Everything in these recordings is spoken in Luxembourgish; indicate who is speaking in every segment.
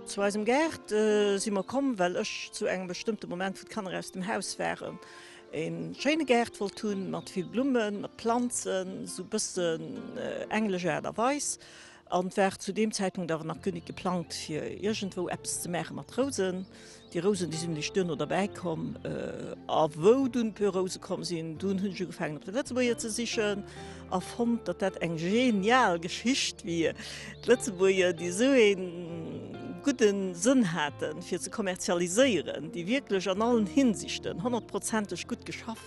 Speaker 1: Zu eisem Gaart si mer komm, well ech zu engem bestëmmte Moment, wou d'Kanner aus dem Haus waren, ee schéine Gaart wollt hunn, mat vill Blummen, mat Planzen, esou e bëssen englesch Aart a Weis. An et war zu deem Zäitpunkt awer nach guer nit geplangt fir iergendwou eppes ze maache mat Rousen. Déi Rousen, déi sinn eréischt duerno derbäi komm. A wou dunn puer Rouse komm sinn, dunn hunn ech ugefaangen op de Lëtzebuerger ze sichen a fonnt, datt dat eng genial Geschicht wier. D'Lëtzebuerger, déi esou ee gudde Sënn haten fir ze kommerzialiséieren, déi wierklech an allen Hinsichten honnertprozenteg gutt geschaff.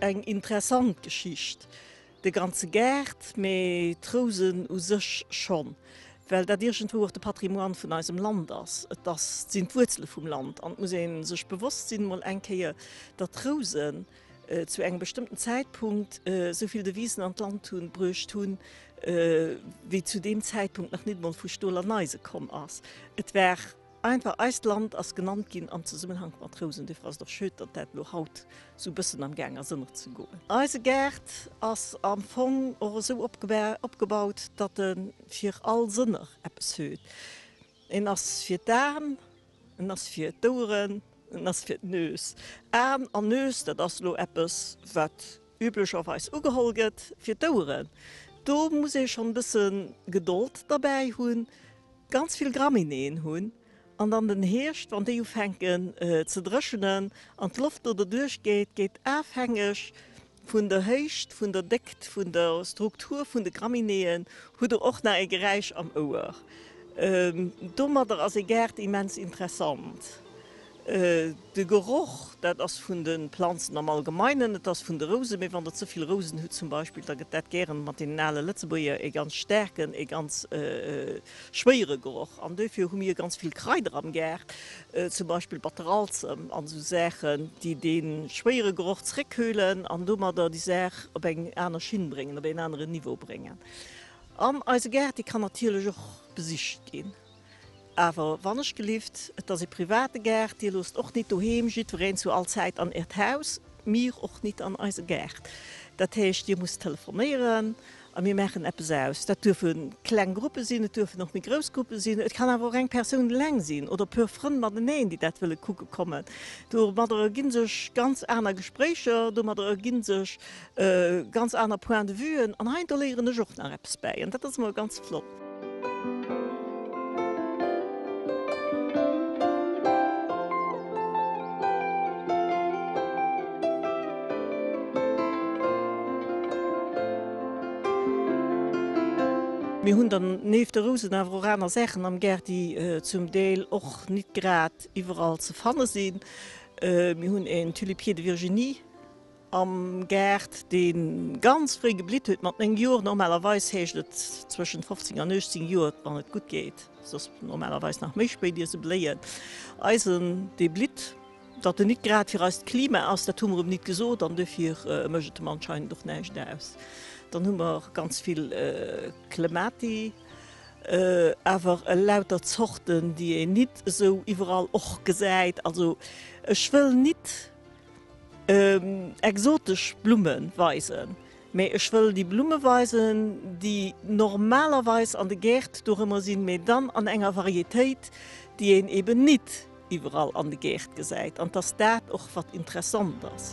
Speaker 1: Eng interessant Geschicht, de ganze Gaart, mee d'Rousen u sech schonn, well dat iergendwou och de Patrimoine vun eisem Land ass. Et ass, sinn d'Wuerzele vum Land an et muss ee sech bewosst sinn, mol eng Kéier, datt d'Rousen zu engem bestëmmten Zäitpunkt esou vill Devisen an d'Land hunn, bruecht hunn, wéi zu deem Zäitpunkt nach nit emol vu Stol an Eise komm ass. Et war. Einfach eist Land ass genannt ginn am Zesummenhank mat Rousen, dofir ass et och schöd, datt dat elo haut esou e bëssen am Gaang ass ënnert ze goen. Eise Gaart ass am Fong och esou opgebaut, datt e fir all Sënner eppes huet, en ass fir d'An, en ass fir d'Oueren, en ass fir d'Nues. An an Nues, dat ass elo eppes wat. üblecherweis ugeholl gëtt, fir d'Ouere. Do muss ee schonn e bësse Gedold derbäi hunn, ganz vill Graminéeën hunn an dann den Hierscht, wann déi ufänken ze dréchenen an d'Loft do derduerch geet, geet afhängeg vun der Héicht, vun der Déckt, vun der Struktur vun de Graminéeën, hutt Der och nach e Geräisch am Ouer. Domadder ass e Gaart immens interessant. De Geroch, dat ass vun de Planzen am Allgemeinen, et ass vun de Rouse, mee wann Der ze vill Rousen hutt zum Beispill, da gëtt dat gären mat deenen ale Lëtzebuerger ee ganz staarken, ee ganz schwéiere Geroch. An duerfir hu mir ganz vill Kraider am Gaart, zum Beispill Batteralzem an esou Saachen, déi dee schwéiere Geroch zréckkühlen an domadder déi Saach op eng aner Schinn bréngen, op een aneren Niveau bréngen. An eise Gaart, dee kann natierlech och besicht ginn. Awer wannechgelift, et ass ee private Gaart, Dir loosst och nit doheem jiddwereen zu all Zäit an Äert Haus, mir och nit an eise Gaart. Dat heescht, Dir musst telefonéieren a mir maachen eppes aus. Dat duerfe kleng Gruppe sinn, et duerfen och méi grouss Gruppe sinn, et kann awer och eng Persoun eleng sinn oder e puer Frënn mateneen, déi dat wëlle kucke kommen. Domadder ergi sech ganz aner Gespréicher, domadder ergi sech Ganz aner Point de Vuen, an hei do léieren ech och nach eppes bäi, an dat ass emol ganz flott. Mir hunn dann nieft de Rousen awer och aner Saachen am Gaart, déi zum Deel och nit grad iwwerall ze fanne sinn. Mir hunn en Tulipier de Virginie. Am Gaart, dee ganz fréi geblitt huet, mat 9 Joer, normalerweis heescht et zwëschent 15 an 18 Joer, wann et gutt geet, et ass normalerweis nach méi spéit, ier se bléien, Eisen, dee blitt. Datt en nit grad fir eist Klima ass, dat hu mer em nit gesot, an duerfir mécht et em anscheinend och näischt aus. Dann hu mer ganz vill Clemati, awer elauter Zorten, déi een nit esou iwwerall och gesäit. Also ech wëll nit Exotesch Blumme weisen, mee ech wëll déi Blumme weisen, déi normalerweis an de Gäert dorëmmer sinn, mee dann an enger Varietéit, déi een eben nit iwwerall an de Gäert gesäit, an 't ass dat och, wat interessant ass.